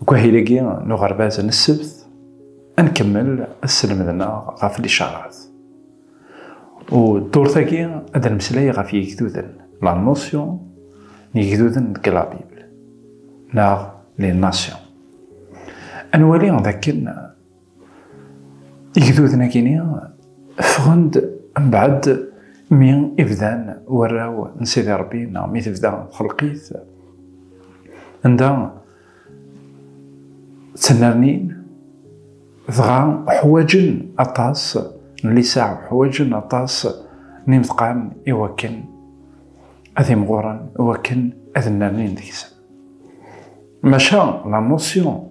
Deg wahil-agi n uɣerbaz n ssebt, ad nkemmel asselmed-nneɣ ɣef licaṛat. U ddurt-agi ad nemmeslay ɣef yigduden, la notion, n yigduden deg la Bible, neɣ les nations. Ad nwali d akken Igduden akini ffɣen-d mbeɛd mi i bdan warraw n Sidi Ṛebbi neɣ mi tebda txelqit anda ttnernin dɣa ḥwaǧen aṭas n lisaɛ, ḥwaǧen aṭas n imeḍqan i wakken ad imɣuren, i wakken ad nnernin deg-sen. Maca la notion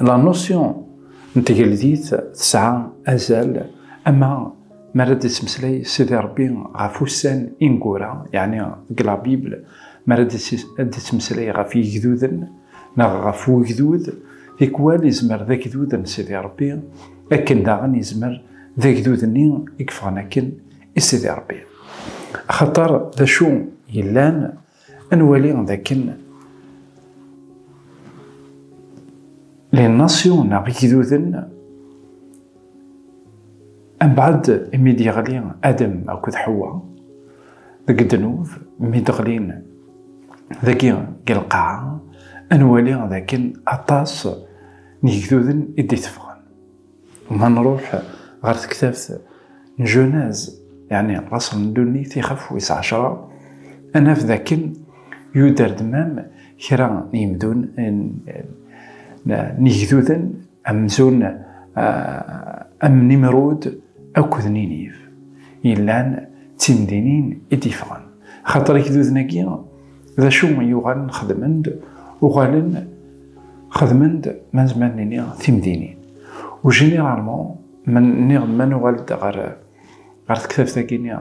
la notion n tgeldit tesɛa azal ama mi ara d-ittmeslay Sidi Rebbi ɣef ussan ineggura yeɛni deg la Bible mi ara d-ittmeslay ɣef yigduden neɣ ɣef wegdud tikwal yezmer d agdud n Sidi Rebbi akken daɣen yezmer d agdud-nni i yeffɣen akken i Sidi Rebbi axaṭer d acu yellan Ad nwali dakken les nations neɣ igduden mbaɛd imi d-yeɣli Adam akked Ḥewwa deg ddnub mi d-ɣlin dagi deg lqaɛa ad nwali dakken aṭas n yigduden i d-iteffɣen. Ma nruḥ ɣer tektabt n Junaz, yeɛni Raṣel n Ddunit, ixaf wis ɛecra, ad naf dakken yuder dmam kra n yimdun n yigduden amzun am Nimrud akked Niniv yellan d timdinin i d-yeffɣen. Axaṭer igduden-agi, D acu i yuɣalen xedmen-d? Uɣalen xedmen-d ma nezmer nini timdinin. U généralement, nniɣ-d ma nuɣal-d ɣer ɣer tektabt-agi-nni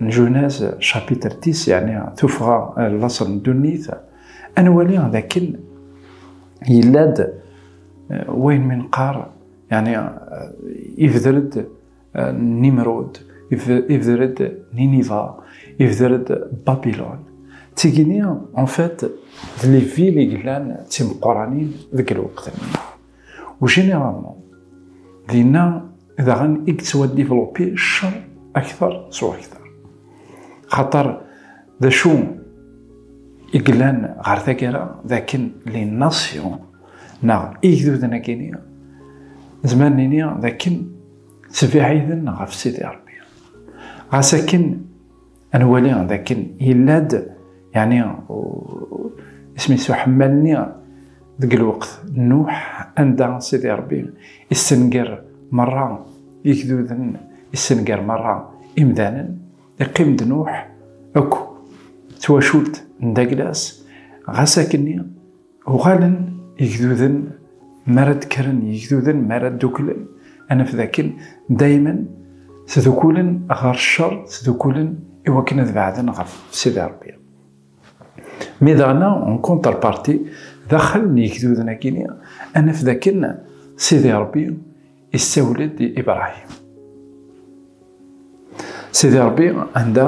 n Junaz, chapitre 10, yeɛni tuffɣa n laṣel n ddunit, ad nwali d akken yella-d wayen mi nqar, yeɛni yebder-d Nimrud, ibder-d Niniva, ibder-d Babylon. D tigini, en fait, d les villes i yellan d timeqqranin deg lweqt-nni. U généralement, dinna daɣen i yettwa développer ccer akteṛ s wakteṛ. Xaṭer d acu i yellan ɣer taggara d akken les nations neɣ igduden-agi-nni nezmer nini d akken Ttbiɛiden ɣef Sidi Ṛebbi. Ɣas akken nwali d akken yella-d yeɛni isem-is uḥemmal-nni deg lweqt n Nuḥ anda Sidi Ṛebbi issenger merra igduden, issenger merra imdanen, iqqim-d Nuḥ akk d twacult n Daglas, ɣas akken Uɣalen igduden mi ara d-kkren, igduden mi ara dduklen, ad naf dakken daymen tdukulen ɣer ccer, tdukulen i wakken ad beɛden ɣef Sidi Rebbi. Mi daɣen, en contrepartie, daxel n yigduden-agi-nni, ad naf dakken Sidi Rebbi yessawel-d i Ibrahim. Sidi Rebbi anda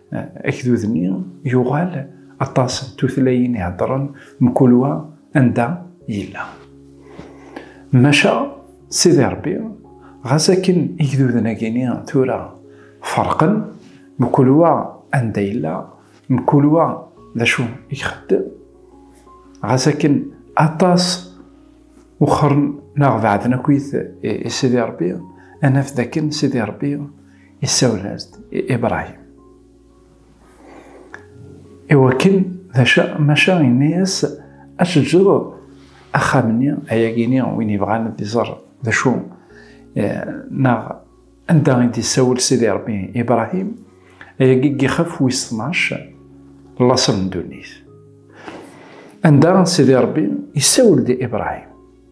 Agdud-nni yuɣal aṭas n tutlayin i heddren mkul wa anda yella. Maca Sidi Rebbi, ɣas akken igduden-agi-ni tura ferqen, mkul wa anda yella, mkul wa d acu i ixeddem, ɣas akken aṭas wexren neɣ beɛden akkit i Sidi Rebbi, ad naf d akken Sidi Rebbi Yessawel-as-d i Ibrahim. Iwakken d acu maca yenna-yas ad tejreḍ axxam-nni ayagi-ni win yebɣan ad iẓer d acu eh, neɣ anda i d-yessawel Sidi Rebbi Ibrahim ayagi i yixef wis 12 laṣel n ddunit. Anda Sidi Rebbi yessawel-d Ibrahim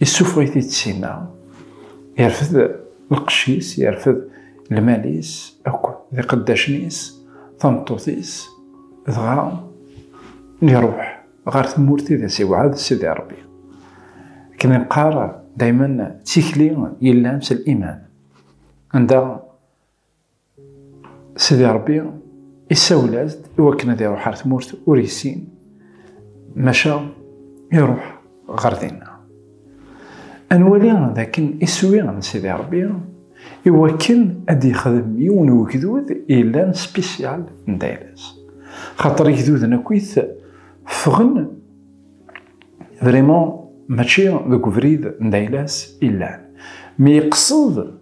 Yessufeɣ-it-id sima, yerfed lqecc-is, yerfed lmal-is akk d iqeddacen-is, tameṭṭut-is, dɣa iruḥ ɣer tmurt i d as-iwɛed Sidi Ṛebbi. Akken i neqqar daymen, d tikli yellan s liman, anda Sidi Ṛebbi isawel-as-d i wakken ad iruḥ ar tmurt ur yessin, maca iruḥ ɣer dinna. Ad nwali d akken iswi n Sidi Ṛebbi i wakken ad d-yexdem yiwen n ugdud yellan spisyal n dayla-s. Xaṭer igduden akkit ffɣen vraiment mačči deg ubrid n dayla-s i llan. Mi iqsed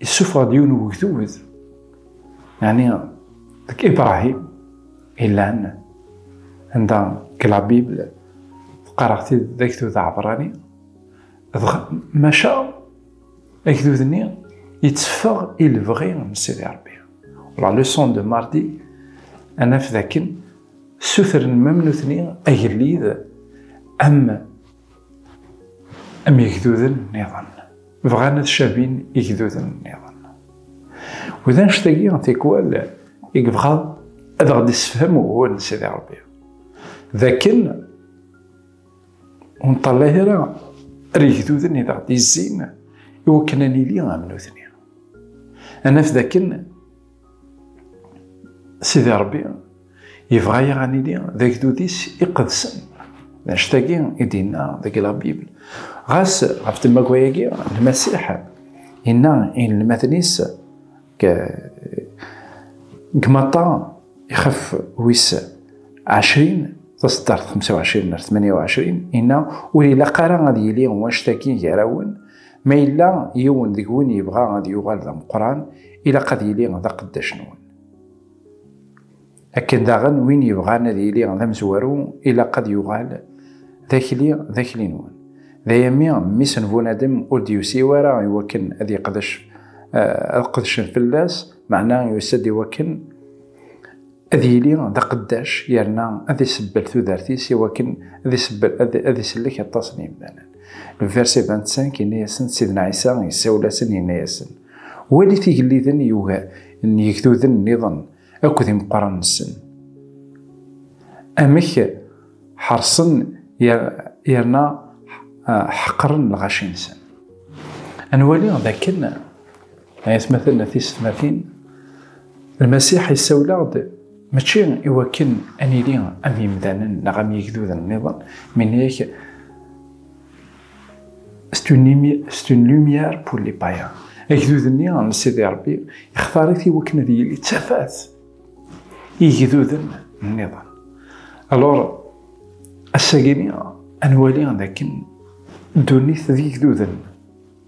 Yessufeɣ-d yiwen wegdud, yani deg Ibrahim ilan anda deg la Bible teqqareɣ-t-id d agdud aɛebrani, dɣa maca agdud-nni yetteffeɣ i lebɣi n Sidi Rebbi. La leçon de mardi ad naf dakken ssutren mam nutni agellid am am yegduden nniḍen bɣan ad cabin igduden nniḍen u d annect-agi tikwal i yebɣa ad aɣ-d-issefhem ugur n Sidi Ṛebbi d akken ur nṭallay ara ar yegduden i aɣ-d-izzin i wakken ad nili am nutni ad naf d akken Sidi Ṛebbi yebɣa-yaɣ ad nili d agdud-is iqedsen. D anect-agi i d-yenna deg la Bible. Ɣas ɣef temmagra-agi, Lmasiḥ yenna i inelmaden-is deg Maṭṭa ixef wis ɛecrin taṣeddart 25 ar 28 yenna ur ilaq ara ad yili wanect-agi gar-awen Ma yella yiwen deg-wen yebɣa ad yuɣal d ameqqran, ilaq ad yili d aqeddac-nwen. Akken daɣen win yebɣan ad yili d amezwaru, ilaq ad yuɣal d akli d akli-nwen. D aya mi mmi-s n Bunadem ur d-yusi ara i wakken ad yeqdec, ad qedcen fell-as, meɛna yusa-d i wakken, ad yili d aqeddac yerna ad isebbel tudert-is i wakken ad isebbel ad isellek aṭas n yimdanen. Vers 25 yenna-yasen Sidna Ɛisa yessawel-asen yenna-yasen, Walit igelliden n yegduden nniḍen akked imeqqranen-nsen, amek ḥerṣen yerna ḥeqren lɣaci-nsen. Ad nwali d akken Ay atmaten a tisetmatin, Lmasiḥ yessawel-aɣ-d mačči i wakken ad nili am yimdanen neɣ am yigduden nniḍen, minna-yak c'est une lumière pour les païens. Agdud-nni n Sidi Rebbi ixtar-it i wakken ad yili d tafat i yigduden nniḍen. Alors, ass-agi ad nwali d akken ddunit d yigduden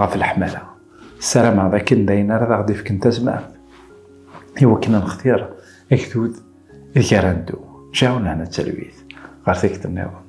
ɣef leḥmala ssarameɣ d akken dayen ara daɣ d-ifken tazmert i wakken ad nextir agdud ideg ara neddu jaw nehna d talwit ɣer tikkelt nniḍen